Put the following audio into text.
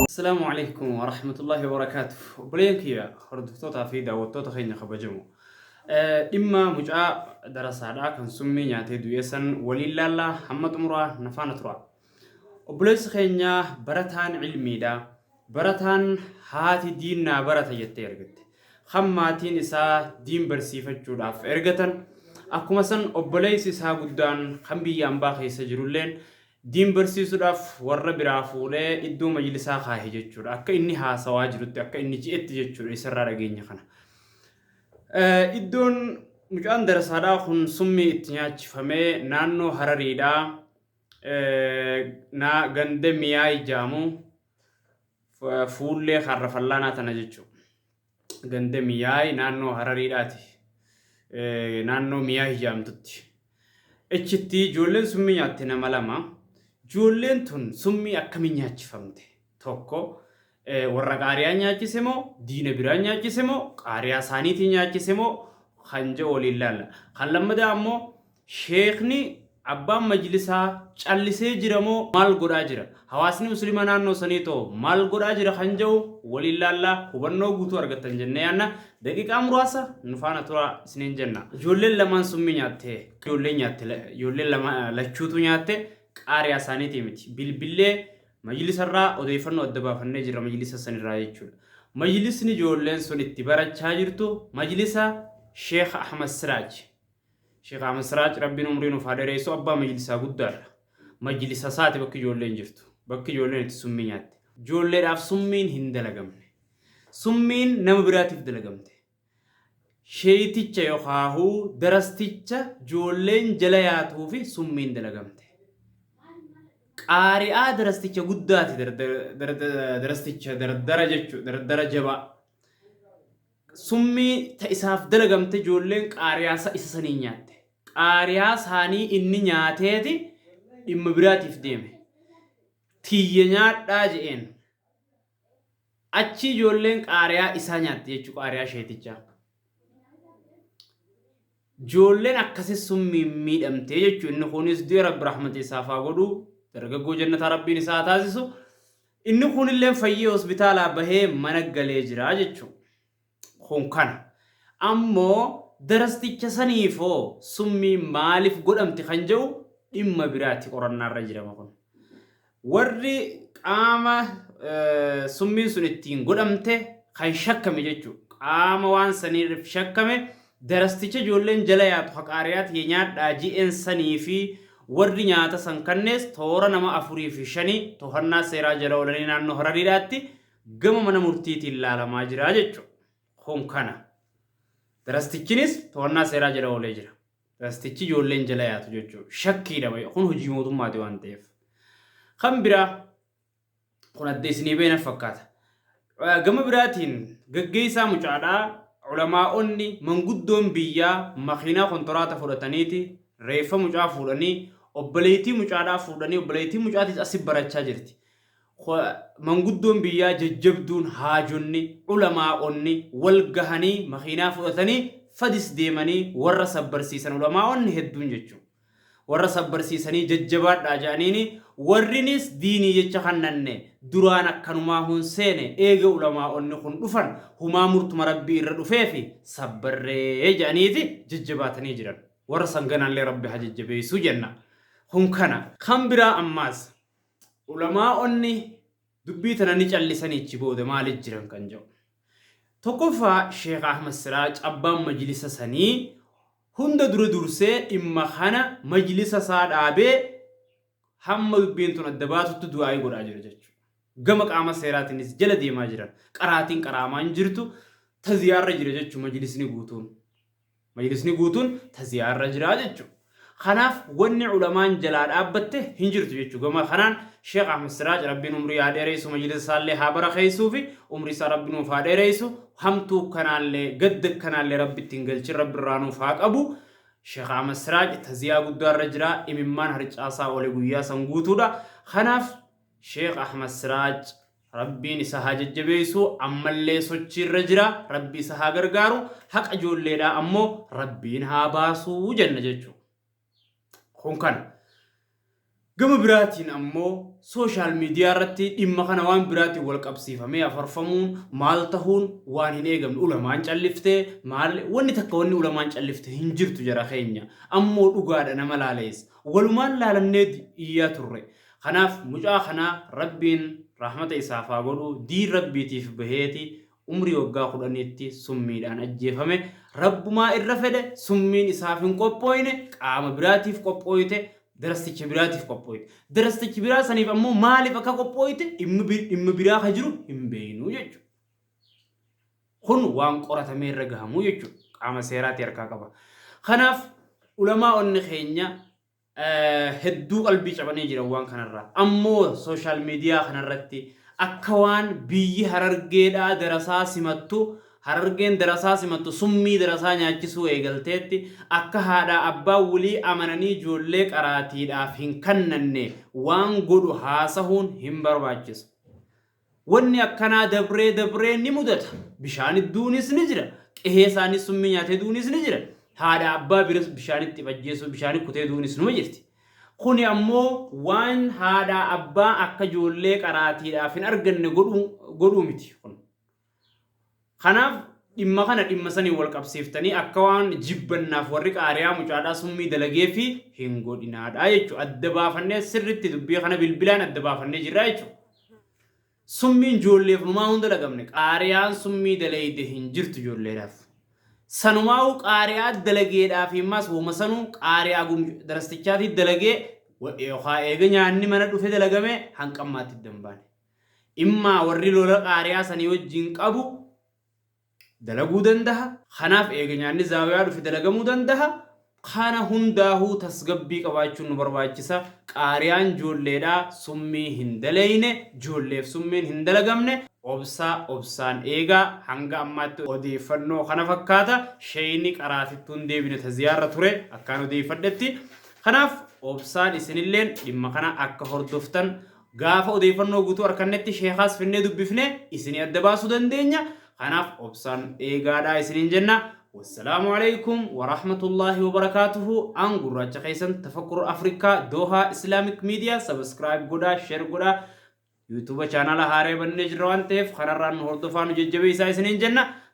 Assalamu alaikum wa rahmatullahi wa barakatuh. Obboleen kiyya hordoftootaa fi daawwattoota keenya kabajamu. Dhimma mucaa darasaadhaa kan summii nyaatee du'ee san waliin laallaa hamma xumuraa na faana turaa. Obboleessi keenya barataan ilmiidha. Barataan haati diin naa barata jettee ergatte. Kan maatiin isaa diin barsiifachuudhaaf ergatan akkuma san obboleessi isaa guddaan kan biyya ambaa keessa jirulleen diin barsiisuudhaaf warra biraa fuudhee iddoo majlisaa kaahe jechuudha. Akka inni haasawaa jirutti akka inni je'etti jechuudha isarraa dhageenya kana. Iddoon mucaan darasaadhaa kun summii itti nyaachifamee naannoo harariidhaa na ganda miyaay jaamu fuullee harra fallaanaa tana jechuudha. Ganda miyaay naannoo harariidhaati. Naannoo miyaay jaamtutti. Achitti ijoolleen summii nyaatte nama lama. Ijoolleen tun summii akkamii nyaachifamte? 1, Warra qaariyaan nyaachise moo diina biraan nyaachise moo qaariyaa isaaniitii nyaachise moo kan jedhu waliin laalla. Kan lammadaa ammoo sheekni abbaan majlisaa callisee jira moo maal godhaa jira? Hawaasni muslima naannoo sanii too maal godhaa jira kan jedhu waliin laalla hubannoo guutuu argattan jennee yaanna. Daqiiqaa muraasa nu faana turaa isiniin jenna. Ijoolleen lamaan summii nyaatte. Ijoolleen nyaatte. Ijoolleen lama lachuutu nyaatte. Qaariyaa isaaniitii miti. Bilbillee Majlisarraa odeeffannoo adda baafannee jirra majlisa sanirraa jechuudha. Majlisni ijoolleen sun itti barachaa jirtu majlisa Sheekh Ahmad Siraaj. Sheekh Ahmad Siraaj Rabbiin umrii nuuf haa dheereessu abbaa majlisaa guddaadha. Majlisa isaati bakki ijoolleen jirtu. Bakki ijoolleen itti summii nyaatte. Ijoolleedhaaf summiin hin dalagamne. Summiin nama biraatiif dalagamte. Sheeyticha yokaahu darasticha joolleen jala yaatuufi summiin dalagamte. Qaari'aa darasticha guddaati darasticha dardara jechu dardara jabaa. Summii ta isaaf dalagamte joolleen qaariyaasa isa sanii nyaatte. Qaariyaa saanii inni nyaateeti dhimma biraatiif deeme. Tiyya nyaadhaa je'een. Achii ijoolleen qaariyaa isaa nyaatti jechuu qaariyaa sheetichaa. Ijoolleen akkasi summiin miidhamtee jechuu inni kunis du'e rabbi rahmata isaaf haa godhu dargaggoo jannataa rabbiin isaa haa taasisu inni kunilleen fayyee hospitaalaa bahee mana galee jira jechuu. kun kana. Ammoo darasticha saniif hoo summiin maaliif godhamte kan jedhu dhimma biraati qorannaarra jirama kun. Warri qaama summiin sun ittiin godhamte kan shakkame jechu qaama waan saniirrif shakkame darasticha ijoolleen jala yaatu haqaariyaa tiyya nyaadhaa ji'een sanii fi warri nyaata san kannees toora nama afurii fi shanii tohannaa seeraa jala oolanii naannoo harariidhaatti gama mana murtiitiin laalamaa jira jechuudha. Kun kana. Tirastichinis to'annaa seeraa jala oolee jira. Tirastichi ijoolleen jala yaatu jechuudha. Shakkiidha baay'ee. Kun hojii mootummaati waan ta'eef. Kan biraa kun adda isinii beena fakkaata. Eh, Gama biraatiin gaggeessaa mucaadhaa ulamaa'onni manguddoon biyyaa makiinaa kontoraata fudhataniiti reeffa mucaa fuudhanii obboleettii mucaadhaa fuudhanii obboleettii mucaatiis asi barachaa jirti. Kh. Manguddoon biyyaa jajjabduun, haajonni, ulamaa'onni, wal gahanii makiinaa fudhatanii fadis deemanii warra sabbarsiisan ulamaa'onni hedduun jechu. Warra sabbarsiisanii jajjabaadhaa ja'aniini warrinis diinii jecha kannanne duraan akkanumaa hun seene eega ulamaa'onni kun dhufan humaa murtuma Rabbii irra dhufeefi sabbarree ja'aniiti jajjabaatanii jiran. Warra san ganaallee Rabbi haa jajjabeeysu jenna. Kun kana. Kan biraa ammaas. Ulamaa'onni dubbii tana ni callisanii achi booda maaliif jiran kan jedhu. Tokkoffaa Sheekh Ahmad Siraaj abbaan majlisa sanii hunda dura dursee dhimma kana majlisa isaa dhaabee hamma dubbiin tun adda baatutti du'aa'ii godhaa jira jechuudha. Gama qaama seeraatiinis jala deemaa jiran. Qaraatiin qaraamaa hin jirtu. Taziyaarra jira jechuun majlisni guutuun. Majlisni guutuun taziyaa irra jira jechu. Kanaaf wanni ulamaan jalaa dhaabbatte hin jirtu jechu. Gama kanaan Sheikh Ahmed Siraaj Rabbiin umrii haa dheereysu majlisa isaallee haa barakheeysuufi umrii isaa Rabbi nuuf haa dheereysu hamtuu kanaallee gadda kanaallee Rabbi itti hin galchin Rabbi irraa nuuf haa qabu Sheikh Ahmed Siraaj taziyaa guddaa irra jira imimmaan harcaasaa oole guyyaa san guutuudha. Kanaaf Sheikh Ahmed Siraaj Rabbiin isa haa jajjabeessu ammallee sochiirra jira rabbi isa haa gargaaru haqa ijoolleedhaa ammoo rabbiin haa baasu jenna jechuu kun kana gama biraatiin ammoo sooshaal miidiyaa irratti dhimma kana waan biraatiin wal qabsiifamee afarfamuun maal tahuun waan hin eegamne ulamaan calliftee maal wanni takka wanni ulamaan callifte hin jirtu jara keenya ammoo dhugaadha nama laaleessa walumaan laalannee iyyaa turre Kanaaf mucaa kana Rabbiin rahmata isaaf haa godhu diin Rabbiitiif baheeti umrii waggaa kudhaniitti summiidhaan ajjeefame. Rabbumaa irra fedhe summiin isaaf hin qophooyne qaama biraatiif qophooyte, darasticha biraatiif qophooyte. Darastichi biraa saniif ammoo maaliif akka qophooyte dhimma biraa ka jiru hin beeynu jechuudha. Kun waan qoratamee irra gahamu jechuudha. Qaama seeraati harkaa qaba. Kanaaf ulamaa'onni keenya hedduu qalbii cabanii jiran waan kanarraa. Ammoo social media kanarratti akka waan biyyi Harargeedhaa darasaa simattu Harargeen darasaa simattu summii darasaa nyaachisuu eegalteetti akka haadhaa abbaan wlii amananii joollee qaraatiidhaaf hin kannanne waan godhu haasahuun hin barbaachisu. Wanni akkanaa dabree dabree ni mudata. Bishaanit duunis ni jira. Qehee isaanii summii nyaatee duunis ni jira. Haadha abbaa biras bishaanit if ajjeesuu bishaanit kutee duunis numa jirti. Kuni ammoo waan haadhaa abbaa akka ijoollee qaraatiidhaaf hin arganne godhuu godhuu miti. Kun Kanaaf dhimma kana dhimma saniin wal qabsiiftanii akka waan jibbannaaf warri qaariyaa mucaadhaa summii dalageefi hin godhinaadha jechu adda baafannee sirritti dubbii kana bilbilaan adda baafannee jirra jechu. Summiin joolleef numaa hunda dhagamne qaariyaan summii daleeyde hin jirtu joolleedhaaf. Sanumaa'uu qaariyaa dalageedhaa fi maas woma sanuu qaariyaa gum darastichaatii dalagee yookaa eega nyaanni mana dhufe dalagame hanqammaatti dambaane. Immaa warri lola qaari'aa sanii wajjiin qabu dalaguu dandaha. Kanaaf eega nyaanni zaawiyaa dhufe dalagamuu dandaha. Kana hundaahuu tasgabbii qabaachuun nu barbaachisa. Qaari'aan joolleedha, summii hin daleeyne, joolleef summiin hin dalagamne. Obsa obsaan eegaa. Hanga ammaatti odeeyfannoo kana fakkaata. Sheeyni qaraatittuu hin deebine ta ziyaarra ture akkaan odeeyfadhetti. Kanaaf obsaan isinilleen dhimma kana akka hordoftan Gaafa odeeffannoo guutuu arkannetti sheekaas finnee dubbifnee isinii adda baasuu dandeenya. Kanaaf obsaan eegaadhaa isiniin jenna. Wassalaamu Aleykum Warahmatullaahi Wabarakaatuhu An gurraacha keessan Tafakkur Africa Doha Islamic Media Subscribe godhaa Share godhaa YouTube chaanaala haaraya bannee jirra waan ta'eef kanarraan nu hordofaa nu jajjabeessaa isiniin jenna.